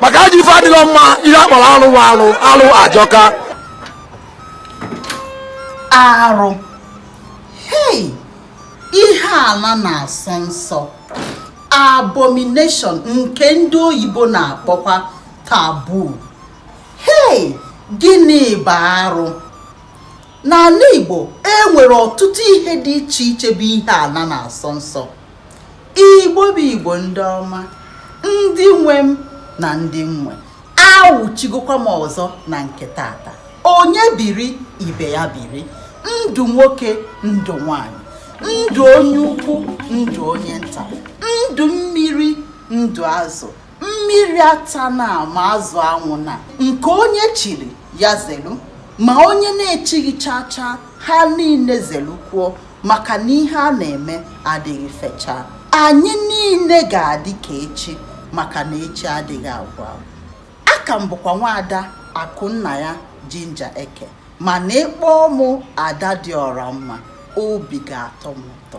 maka ajọ ife adịghị mma ihe a kpọrọ alụ wa alụ ajọka arụ hei ihe ala na-asọ nsọ abomination nke ndị oyibo na-akpọkwa taboo hei gịnị bụ arụ n'ala igbo e nwere ọtụtụ ihe dị iche iche bụ ihe ala na-asọ nsọ igbo bụ igbo ndị ọma ndị nwe m na ndị m nwe awụchigokwa m ọzọ na nke tata onye biri ibe ya biri ndụ nwoke ndụ nwanyị ndụ onye ukwu ndụ onye nta ndụ mmiri ndụ azụ mmiri atana ma azụ anwụna nke onye chiri ya zelu ma onye na-echighị chaa chaa ha niile zelukwuo maka na ihe a na-eme adịghị fechaa anyị niile ga-adị ka echi maka na echi adịghị agwụ agwụ aka m bụkwa nwaada akụnnaya ginger eke mana ị kpọọ mụ ada dị ọra mma obi ga-atọ m ụtọ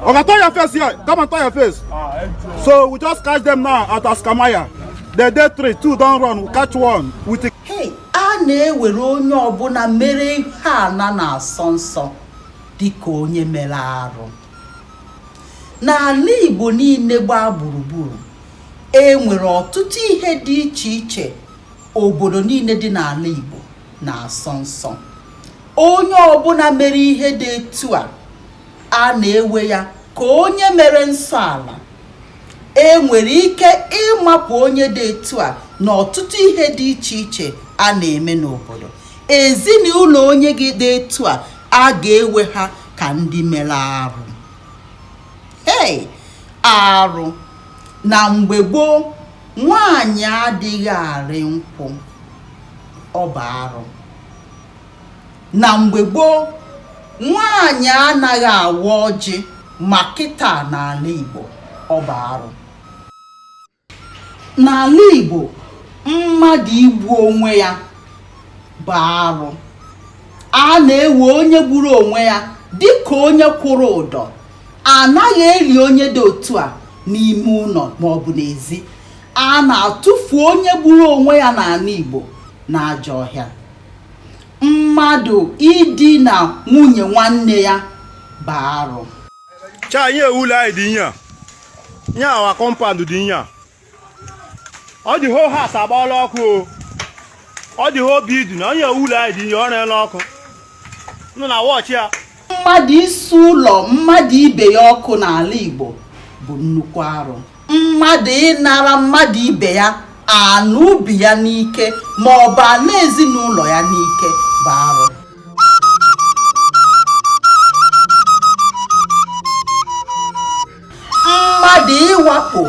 Oga, turn your face here. Come and turn your face. Ah, so we just catch them now at Askamaya. They dey three, two don run. We catch one. We take. Hey, a na-ewere onye ọbụla mere ihe ana na-asọ nsọ dịka onye mere arụ. N'ala Igbo niile gbaa gburugburu, e nwere ọtụtụ ihe dị iche iche obodo niile dị n'ala Igbo na-asọ nsọ. Onye ọbụla mere ihe dị etu a a na-ewe ya ka onye mere nsọ ala e nwere ike ịmapụ onye dị etu a na ọtụtụ ihe dị iche iche a na-eme n'obodo ezinụlọ onye gị dị etu a a ga-ewe ha ka ndị mere arụ hei arụ na mgbe gboo nwaanyị adịghị arị nkwụ ọ bụ arụ na mgbe gboo nwaanyị anaghị awa ọjị ma kịta n'ala Igbo ọ bụ arụ n'ala Igbo mmadụ igbu onwe ya bụ arụ a na-ewe onye gburu onwe ya dịka onye kwụrụ ụdọ anaghị eli onye dị otu a n'ime ụlọ maọbụ n'ezi a na-atụfu onye gburu onwe ya n'ala Igbo n'ajọ ọhịa Mmadụ idina nwunye nwanne ya bụ arụ. Chaa ihe a wụ ụlọ anyị dị ihe a. Ihe our compound dị ihe a. Ọ the whole house agbaala ọkụ o. Ọ the whole building. Onye wụ ụlọ anyị dị ihe ọ na-ere ọkụ. Nụ na watch ya. mmadụ isi ụlọ mmadụ ibe ya ọkụ n'ala Igbo bụ nnukwu arụ mmadụ ịnara mmadụ ibe ya ana ubi ya n'ike ma ọ bụ ana ezinụlọ ya n'ike bụ arụ mmadụ ịwakpo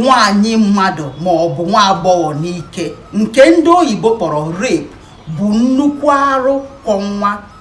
nwanyị mmadụ ma ọ bụ nwa agbọghọ n'ike nke ndị oyibo kpọrọ rape bụ nnukwu arụ kwọ nwa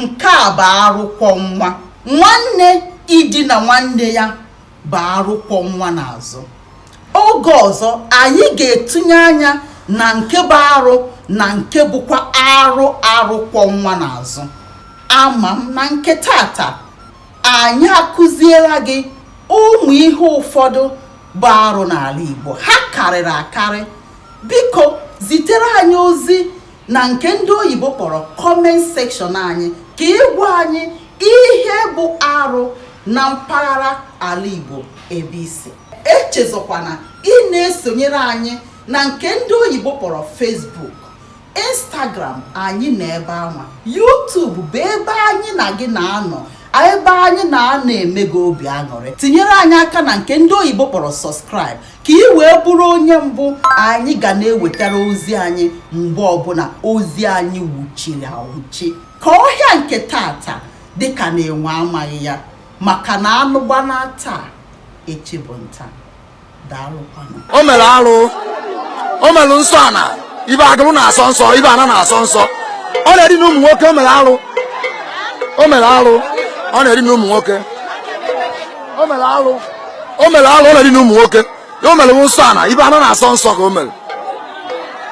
nke a bụ arụ kwọ nwa nwanne idina nwanne ya bụ arụ kwọ nwa n'azụ oge ọzọ anyị ga-etinye anya na nke bụ arụ na nke bụkwa arụ arụ kwọ nwa n'azụ ama m na nke tata anyị akụziela gị ụmụ ihe ụfọdụ bụ arụ n'ala Igbo ha karịrị akarị biko zitere anyị ozi na nke ndị oyibo kpọrọ comment section anyị ka ị gwa anyị ihe bụ arụ na mpaghara ala Igbo ebe i si echezọkwana ị na-esonyere anyị na nke ndị oyibo kpọrọ Facebook Instagram anyị na ebe anwa YouTube bụ ebe anyị na gị na-anọ ebe anyị na-anọ eme gị obi aṅụrị tinyere anyị aka na nke ndị oyibo kpọrọ subscribe ka ị wee bụrụ onye mbụ anyị ga na-ewetara ozi anyị mgbe ọbụla ozi anyị wuchiri awuchi ka ọhịa nke tata dịka na enwe amaghị ya maka na anụ gbana taa echi bụ nta daalụkwanụ o mere arụ o mere nsọ ana ife agụrụ na-asọ nsọ ife ana na-asọ nsọ ọ na-eri na ụmụ nwoke o mere arụ o mere arụ ọ na-eri na ụmụ nwoke o mere arụ o mere alụ ọ na-eri na ụmụ nwoke o mere nsọ ana ife ana na-asọ nsọ ka o mere